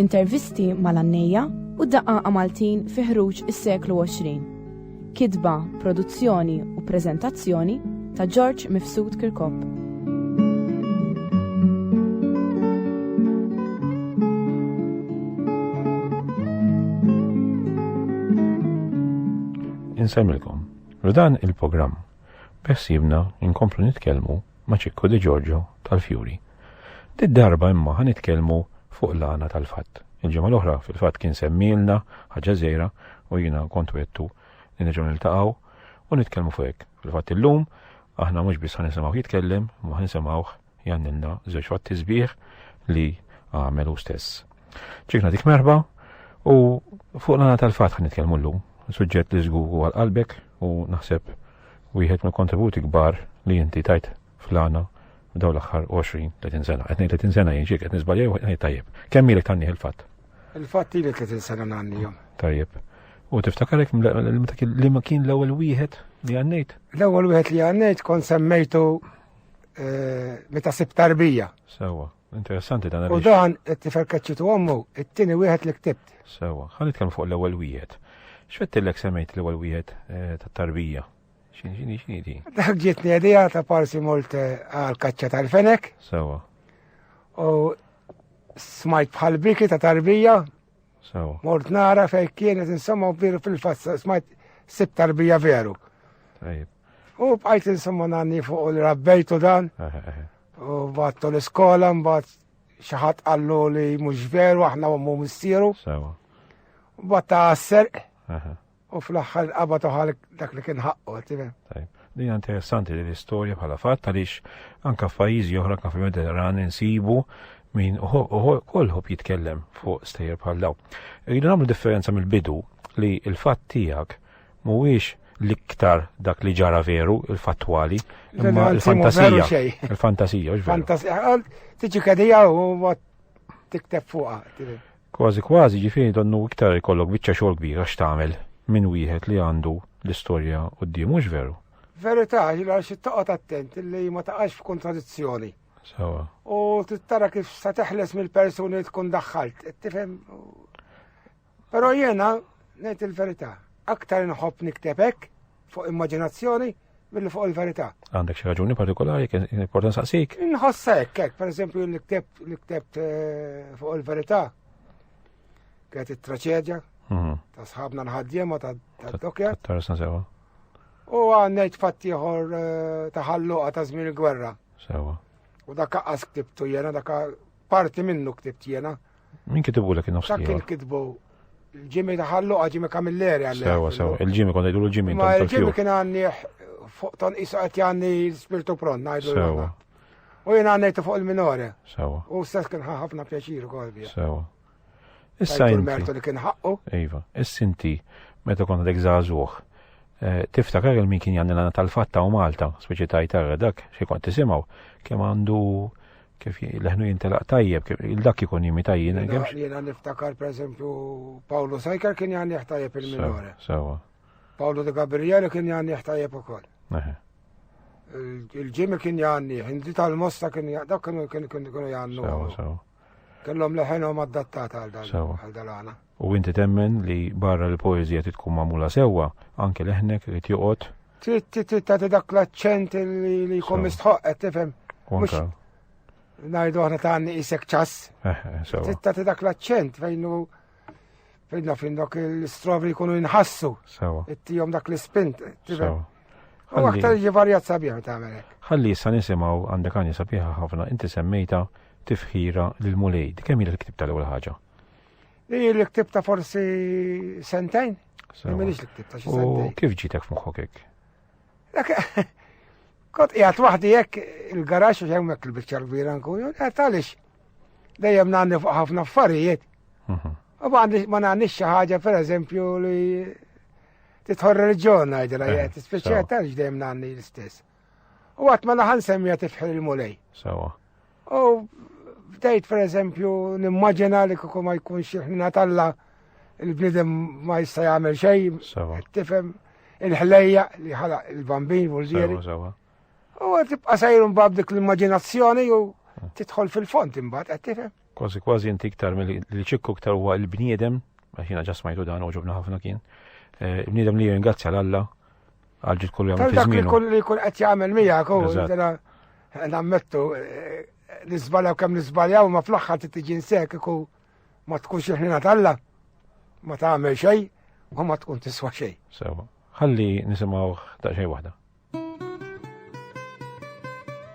Intervisti mal-għannejja u d-daqqaqa Maltin fi ħruġ is-seklu 20. Kitba, produzzjoni u preżentazzjoni ta' George Mifsud Kirkop. Insemmilkom, rudan il-programm bessibna inkomplu nitkellmu ma' Ċikku De Giorgio tal-Fjuri. Did darba imma ħa nitkellmu fuq l-għana tal-fatt. Il-ġimgħa l-oħra fil-fatt kien semmilna ħaġa żejra u jiena kont wettu li nerġgħu niltaqgħu u nitkellmu fuq hekk. Fil-fatt illum aħna mhux biss ħa nisimgħu jitkellem, ma ħa nisimgħuh jannilna żewġ fatti sbieħ li għamelu stess. Ċikna dik merħba u fuq l-għana tal-fat ħan nitkellmu l-lum, suġġett li zgugu għal-qalbek u naħseb wieħed mill kontributi kbar li inti tajt fl-għana daw l-axħar 20-30 sena. Etni 30 sena jinġiek, etni zbalja u etni tajjeb. Kemm ilek tanni il-fat? Il-fat li 30 sena nanni jom. Tajjeb. U tiftakarek li ma kien l-ewwel wieħed li għannejt? L-ewwel wieħed li għannejt kon semmejtu eh, meta sib tarbija. Sewa, interessanti dan U dan it-tifel kaċċitu ommu, it-tieni wieħed li ktibt. Sewa, ħan nitkellmu fuq l-ewwel wieħed. X'fettillek semmejt l-ewwel wieħed eh, tat-tarbija? Xini, xini, xini di? Dak ġietni għedija ta' parsi molt eh, għal kaċċa tal-fenek. Sewa. U smajt bħal biki ta' tarbija. Sewa. Mort nara fej kienet insomma u biru fil-fassa smajt sib tarbija veru. Tajib. U bqajt insomma nanni fuq u li rabbejtu dan. U battu l-iskola, mbatt xaħat għallu li mux veru, aħna u mu mistieru. U batta għasser. U fl-axħar qabatu ħal dak li kien ħaqqu, timem. Li interessanti li l-istoria bħala fatt għaliex anka f'pajjiżi oħra kan fil-Mediterran insibu min kolħob jitkellem fuq stejjer bħal daw. Rridu nagħmlu differenza mill-bidu li l-fatt tiegħek mhuwiex l-iktar dak li ġara veru, il-fattwali, imma il-fantasija. Il-fantasija, ġveru. Fantasija, għal tiġi kadija u għat tikteb fuqa. Kważi kważi ġifini donnu iktar ikollok bicċa xogħol kbira x'tagħmel minn wieħed li għandu l-istorja u d-dim, mhux veru. Verità, ġila xi toqgħod attent li ma taqax f'kontradizzjoni. Sawa. U tittara kif sa teħles mill-persuni tkun daħħalt, tifhem Però jiena ngħid il-verità, aktar inħobb nikteb hekk fuq immaġinazzjoni billi fuq il-verità. Għandek xi raġuni partikolari kien important saqsik? Inħossa hekk hekk, pereżempju li ktebt li ktebt eh, fuq il-verità. Kienet it-traċedja mhm. ta' sħabna l-ħaddiema ta' dokja. Tarsa sewa. U għannejt fatti ieħor eh, ta' ħalluqa ta' żmien il-gwerra. Sewa. U dak qaqqas ktibtu jena, dak parti minnu ktibt jena. Min kitibu l-ek nofs Dak kien kitbu l-ġimi taħallu għaġimi kamilleri għalli. Sewa, sewa, il-ġimi kon għajdu l-ġimi. Ma il-ġimi kien għanni fuq ton isa għet għanni l-spirtu pron, għajdu l-ġimi. U jena għannajtu fuq il-minore. Sewa. U s-sess kien ħafna pjaċir u kolbi. Sewa. Issa jinti. Mertu li kien ħaqqu. Iva, is-sinti, meta konna dek zazuħ. Eh, tiftakar il-min kien jgħanni l-għana tal-fatta u Malta, speċi tajtarra dak, xie kont tisimaw, kem għandu Kif leħnu jintelaq tajjeb, kif il-dak ikun jimi tajjin. Jena niftakar, per eżempju, Pawlu Sajkar kien jgħan jħtajjeb il-minore. Sawa. Pawlu de Gabriele kien jgħan jħtajjeb u koll. Il-ġimmi kien jgħanni, hindi tal-mosta kien jgħanni, dak kienu jgħannu. Sawa, sawa. Kellhom leħenhom adattata għal dal-għana. U inti temmen li barra l-poezija titkun magħmula sewwa, anke leħnek irid joqgħod. Trid tagħti dak l-aċċent li jkun mistħoqqet tifhem. Mhux ngħidu aħna tagħni isek ċass. Eh, eh, trid tagħti dak l-aċċent fejn hu fejn naf dok l-istrovri jkunu jinħassu. Sewa. Ittihom dak l-ispint. Sewa. U aktar jivarjat sabiħ ta' għamelek. Ħalli issa nisimaw għandek għani sabiħa ħafna, inti semmejta tifħira l-mulej. Kemm il-ktib tal-ewwel ħaġa? Ej, li ktib ta' forsi sentejn? Minix li ktib ta' xi sentejn. Kif ġitek f'moħħok hekk? Kot qiegħed waħdi hekk il-garax u hemmhekk il-biċċa l-kbira nkun, qed għaliex dejjem nagħni fuq ħafna affarijiet. Mhm. U ma nagħnix xi ħaġa pereżempju li titħor reġjon ngħidilha, eh, speċjal tal dejjem nagħni l-istess. U għat ma laħan semmija tifħir il-mulej. Sawa. U bdejt per eżempju nimmaġina li kuku ma jkunx xieħna talla il-bnidem ma jista jagħmel xejn. Sawa. Tifhem il-ħlejja li ħala il-bambin vulġieri. Sawa. U tibqa' sajrun bab dik l-immaġinazzjoni u hmm. titħol fil-font imbagħad qed tifhem. Kważi kważi inti iktar mill ċikku iktar huwa l-bniedem, għax jiena ġasmajtu dan u ġobna ħafna kien. Eh, il-bniedem li jingrazzja l-Alla għal ġid kull jom fiż-żmien. Kull li jkun qed jagħmel miegħek u nammettu eh, nisbaljaw kemm nisbaljaw ma fl-aħħar tiġi nsek iku ma tkunx il-ħina talla ma tagħmel xejn u ma tkun tiswa xejn. Sewa. Ħalli nisimgħu ta' xejn waħda.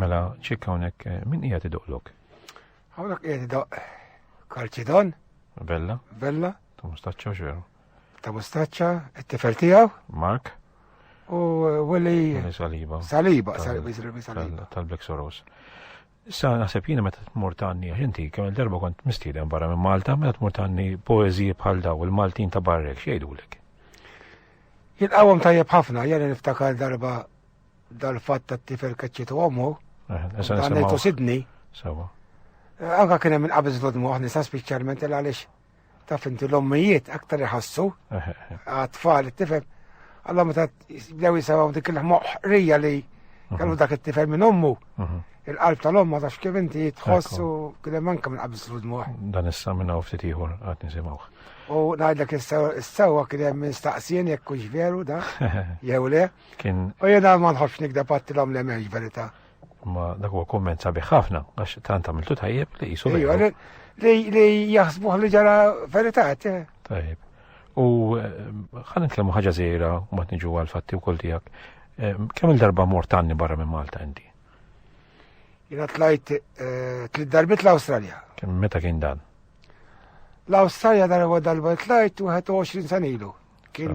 Mela, ċekka hawnhekk eh, min qiegħed idoqlok? Hawnhekk qiegħed idoq Kalċidon. Bella. Bella. Ta' mustaċċa u xeru. Ta' mustaċċa, it-tifel tiegħu. Mark. U eh, Willi. Saliba. Saliba, Saliba. Tal-Black Soros. Issa naħseb jiena meta tmur tanni għax inti kemm il-darba kont mistieden barra minn Malta meta tmur tanni poeżiji bħal daw il-Maltin ta' barrek x'jgħidulek. Jilqawhom tajjeb ħafna, jena niftakar darba Dal-fatt tat-tifel kaċċitu ommu, għanajtu Sidni. Sawa. Eh, anka kien hemm inqabiż l-odmu aħna sa speċjalment il għaliex ta' finti l-ommijiet aktar iħassu għat-tfal it-tifel. Alla meta bdew jisawaw dik il-moħrija li kellu dak it-tifel minn ommu. Mhm. Il-qalb tal-omm ma tafx kif inti tħoss u kien hemm anke minn qabis l-dmuħ. Dan issa minn hawn ftit ieħor qatt nisimgħu. U ngħidlek is-sewwa kien hemm minn staqsien jekk hux veru da jew le. Kien. U jena ma nħobbx nikda pattilhom li m'hemmx verità. Ma dak huwa kumment sabiħ ħafna għax tant għamiltu tajjeb li jisu veru. Li jaħsbuh li ġara verità. Eh. Tajjeb. U eh, ħan nitkellmu ħaġa żejra u ma tniġu għal fatti wkoll tiegħek. Eh, kemm il-darba mortanni barra minn Malta inti? Jena tlajt tliet darbit l-Awstralja. Meta kien dan? L-Awstralja darba darba tlajt 21 sanilu. Kien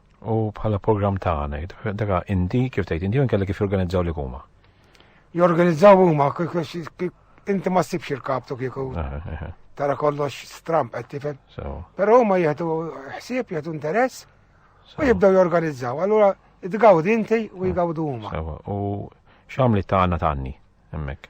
U bħala program ta' għana, daga inti kif tgħid inti kellek kif jorganizzaw li huma. Jorganizzaw huma inti ma ssibx il-kaptu kieku. Eh, eh, eh. Tara kollox stramp qed tifhem. Però huma jieħdu ħsieb, jieħdu interess u jibdew jorganizzaw. Allura tgawd inti u jgawdu huma. U x'għamli ta' għandna tanni hemmhekk?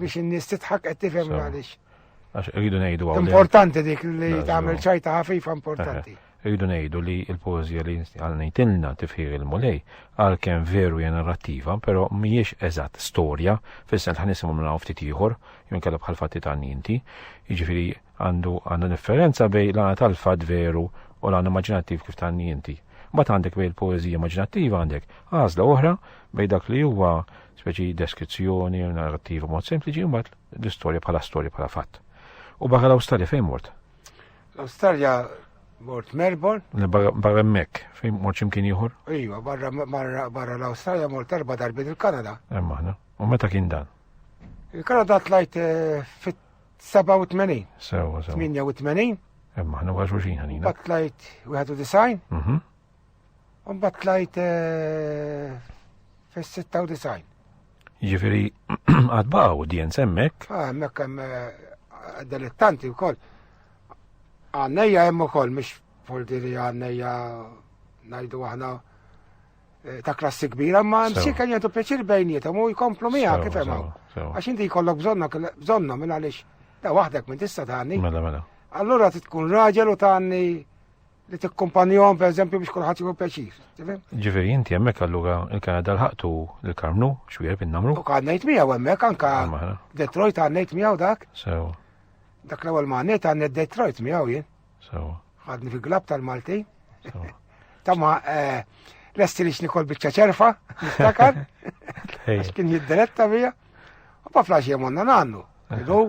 biex in-nies titħak qed tifhem għaliex. Għax rridu ngħidu għaw. Importanti dik li tagħmel ċajta ħafifa importanti. Rridu ngħidu li l-poeżija li għal ngħidilna tifħir il-mulej għalkemm veru hija narrattiva, però mhijiex eżatt storja, fissa l ħanisimhom minn hawn ftit ieħor, jew kellha bħal fatti ta' ninti, jiġifieri għandu għandu differenza bej l-għana tal-fat veru u l-għana immaġinattiv kif ta' ninti. Bat għandek bej il-poezija immaġinattiva għandek għazla oħra bej dak li huwa speċi deskrizzjoni u narrativa mod sempliċi mbagħad l-istorja bħala storja bħala fatt. U barra l-Awstralja fejn mort? L-Awstralja mort Melbourne. Barra mek, fejn mort ximkien ieħor? Iva, barra l-Awstralja mort erba' darbit il-Kanada. Hemm aħna. U meta kien dan? Il-Kanada tlajt eh, fit-87. Sewa, sewa. 88. Hemm aħna wara xulxin ħanina. Tlajt 91. Mhm. Umbat tlajt eh, fis-96. Ġifiri, għadba audienza emmek? Ah, emmek hemm eh, dilettanti wkoll. Għannejja hemm ukoll mhux foldi li għannejja ngħidu aħna eh, ta' klassi kbira, ma msi kan jentu peċir bejnietom u jkomplu mija kif hemm. Għax inti jkollok bżonna bżonna minn għaliex ta' waħdek minn tista' tagħni. Mela mela. Allura tkun raġel u tagħni li tikkumpanjom per eżempju biex kulħadd jieħu pjaċir. Ġifieri inti hemmhekk allura il-Kanada l-ħaqtu l-Karmnu xwieħed innamru. U kan ngħid miegħu hemmhekk anka Detroit għan ngħid miegħu dak. Sew. Dak l-ewwel ma ngħid għan Detroit miegħu jien. Sew. Ħadni fi glab tal-Malti. Tamma eh, lesti li xnikol biċċa ċerfa, niftakar. Kien jiddiretta bija. U pa flaxi jemonna nannu. Idu.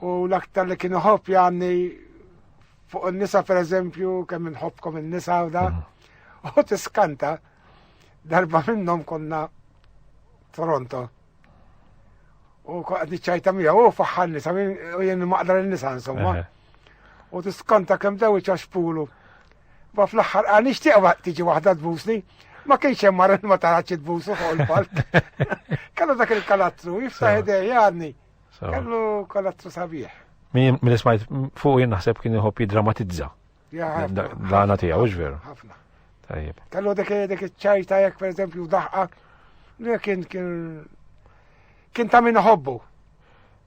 U l-aktar li kienu ħobb janni fuq il-nisa per eżempju, kemm nħobkom il-nisa u da, u tiskanta darba minnom konna Toronto. U għadni ċajta mija, u faħħan nisa, u jenni maqdar il-nisa insomma. U tiskanta kem dawi ċaxpulu. Ma fl-aħħar qal nixtieq tiġi waħda tbusni. Ma kienx hemm mara ma tarax tbusu fuq il-palk. Kellu dak il-kalattru, jiftaħ idej jgħadni. Kellu kalattru sabiħ. Min ismajt fuq jien naħseb kien iħobb jiddramatizza. L-għana tiegħu, veru. Ħafna. Tajjeb. Kellu dik dik iċ-ċajta jekk pereżempju daħqa li kien kien kien ta' min ħobbu.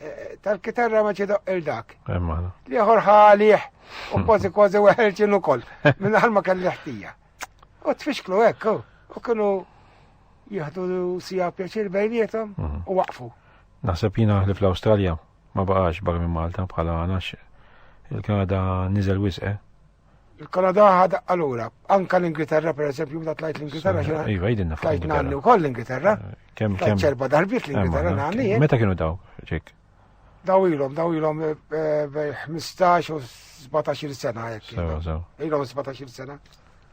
eh, tal-kitarra ma ċedoq il-dak. Liħor ħalih u kważi kważi weħelċin ukoll minn ħalma kelli ħtija. U tfixklu hekk u kienu jieħdu sija pjaċir bejnietom mhm. u waqfu. Naħseb jina li fl-Awstralja ma baqax barra minn Malta bħala għanax il-Kanada niżel wisqe. Eh? Il-Kanada ħad allura, anka l-Ingilterra per eżempju, meta tlajt l-Ingilterra xi Iva, jidinna fuq. Tlajt nanni wkoll l-Ingilterra. Eh, kemm kemm. Ċerba darbiet l-Ingilterra eh, nanni. Eh. Meta kienu daw, ġek? Daw ilhom, daw ilhom 15 u 17 sena jekk. Sewa, sewa. Ilhom 17 sena.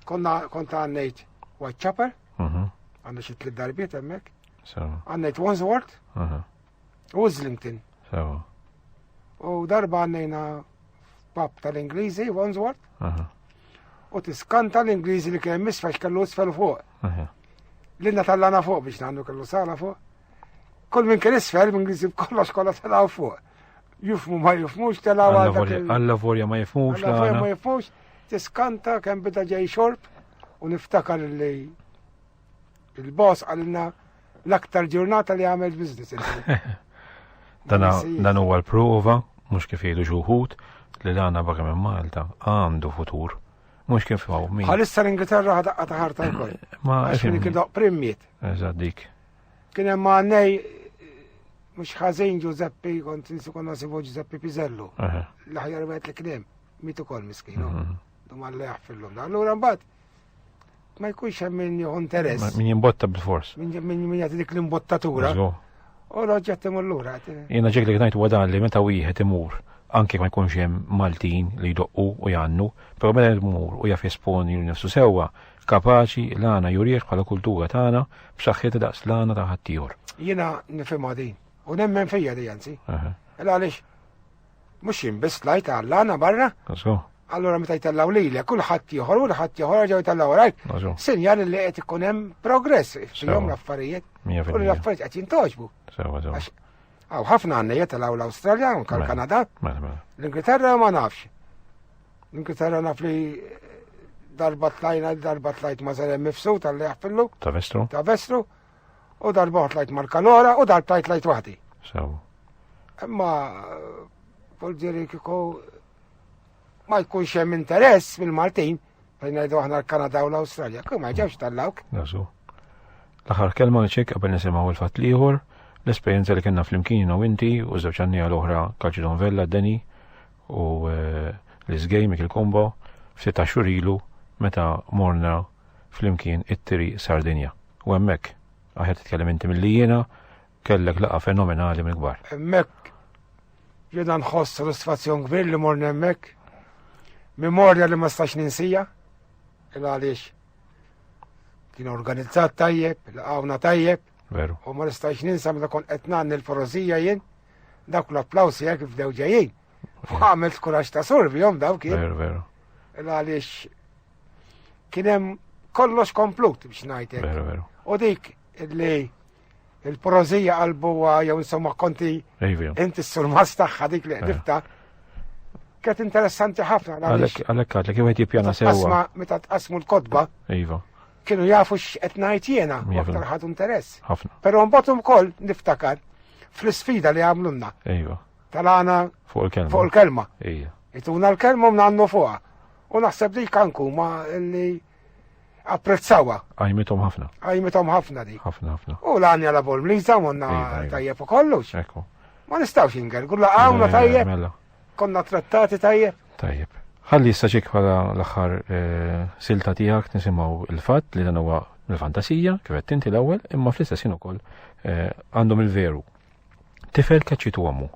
Konna konta għannejt Whitechapel, mhm. għandna xi tliet darbiet hemmhekk. Għannejt Wandsworth, mhm. U Islington. Sewa. U darba għannejna pap tal-Ingliżi, Wandsworth. U tiskanta l-Ingliżi li kien misfax kellu isfel fuq. L-inna tal-lana fuq biex nandu kellu sala fuq. Kull minn kien isfel, minn Ingliżi b'kollox kollha telaw fuq. Jufmu ma jufmux telaw għal. Alla vorja ma jufmux. Alla vorja ma jufmux. Tiskanta kemm bida ġej xorb u niftakar li il-boss għalina L-aktar ġurnata li għamel biznis. Dan huwa l-prova, mhux kif jgħidu xuħut, li l-għana baga minn Malta għandu futur. Mhux kif għaw min. Għalissa l-Ingilterra ħadaqqa ta' ħarta l-koll. Ma għaxin kien daq primmiet. Eżad dik. Kien hemm għannej mhux ħażin Giuseppe kont nsikun nasibu Giuseppe Pizello. L-aħjar wieħed li kien hemm mitu kol miskinu. Mhm. Dumma li jaħfillum. Allura mbagħad Ma jkunx hemm min jieħu interess. Min jimbotta bil-fors. Min jagħti dik l-imbottatura. U l-oġġett imur lura. Jiena ġek li ngħid wadan li meta wieħed imur anke ma jkunx hemm Maltin li jdoqqu u jgħannu, però meta jmur u jaf jesponi nifsu sewwa, kapaċi l-għana jurieħ bħala kultura tagħna b'saħħitha daqs l-għana ta' ħaddieħor. Jiena nifhimha din u nemmen fija di anzi. Għaliex Mhux jien biss tlajt għall-għana barra. Għaxu. Allora meta jtellaw lilek kulħadd ieħor u l-ħadd ieħor ġew jtellaw rajt. Sinjal li qed ikun hemm progress fihom l-affarijiet. U l-affarijiet qed jintoġbu. Sewa sewa. Għaw ħafna għanna jitalaw l-Australja, unka mela, l-Kanada. Mela, mela. L-Ingilterra ma nafx. L-Ingilterra naf li darba tlajna, darba tlajt ma zarem mifsu tal-li għaffillu. Ta' vestru. Ta' vestru. U darba tlajt marka l-ora u darba tlajt waħdi. Sew. Imma volġeri kiko ma jkunx hemm interess mill-Maltin fejn ngħidu aħna l-Kanada u l-Awstralja, kif ma ġewx tal-lawk. Nasu. L-aħħar kelma nċek qabel nisimgħu l-fatt liħor, l-esperjenza li kellna flimkien u inti u żewġ għanni għal oħra Kalċidon Vella, Deni u eh, l-Isgej Mikil Kombo ftit xurilu meta morna flimkien it-tiri Sardinja. U hemmhekk, aħjar titkellem inti milli jiena, kellek laqa fenomenali minn kbar. Hemmhekk jiena nħoss sodisfazzjon kbir li morni hemmhekk. Memorja li ma stax ninsija, il għaliex kien organizzat tajjeb, laqawna tajjeb. Veru. U ma nistax ninsa meta kont qed nagħni l-porosija jien, dak l-applaws jekk f'dew ġejjin. Għamil skurax ta' survi jom daw kien. Veru, veru. Għalix kienem kollox komplut biex najtek. Veru, veru. U dik li il-porozija għal-buwa jew insomma konti inti s-surmas taħħa dik li għedifta. Ket interessanti ħafna. Għalek għadlek, kif għed jipjana sewa. Meta tqasmu l-kodba. Iva. Kienu jafu x'qed ngħid jiena, aktar ħadu interess. Ħafna. Però mbagħad ukoll niftakar fl-isfida li għamlunna. Iva. tal-għana fuq il-kelma. Fuq il-kelma. Ija. Ituna l-kelma mnannu fuqa. U naħseb dik kanku ma li apprezzawa. Għajmitom ħafna. Għajmitom ħafna di. ħafna ħafna. U l-għanja la bol mliza monna tajjeb u kollux. Ekku. Ma nistawx inger, gulla għawna tajjeb. Mela. Konna trattati tajjeb. Tajjeb. Ħalli issa ċik bħala l-axħar eh, silta tijak nisimaw il-fat li dan huwa l-fantasija, kif qed tinti l-ewwel, imma fl-istess ukoll eh, għandhom il-veru Tifel kaċċitu għamu.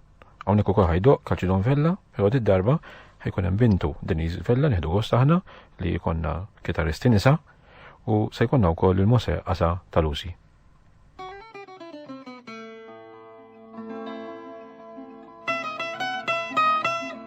Għawnek u kħajdo, kaċċidon vella, pero di darba ħajkun hemm bintu Deniz Vella nieħdu gost aħna li jkollna kitaristi nisa u se jkollna wkoll il-mose qasa tal-usi.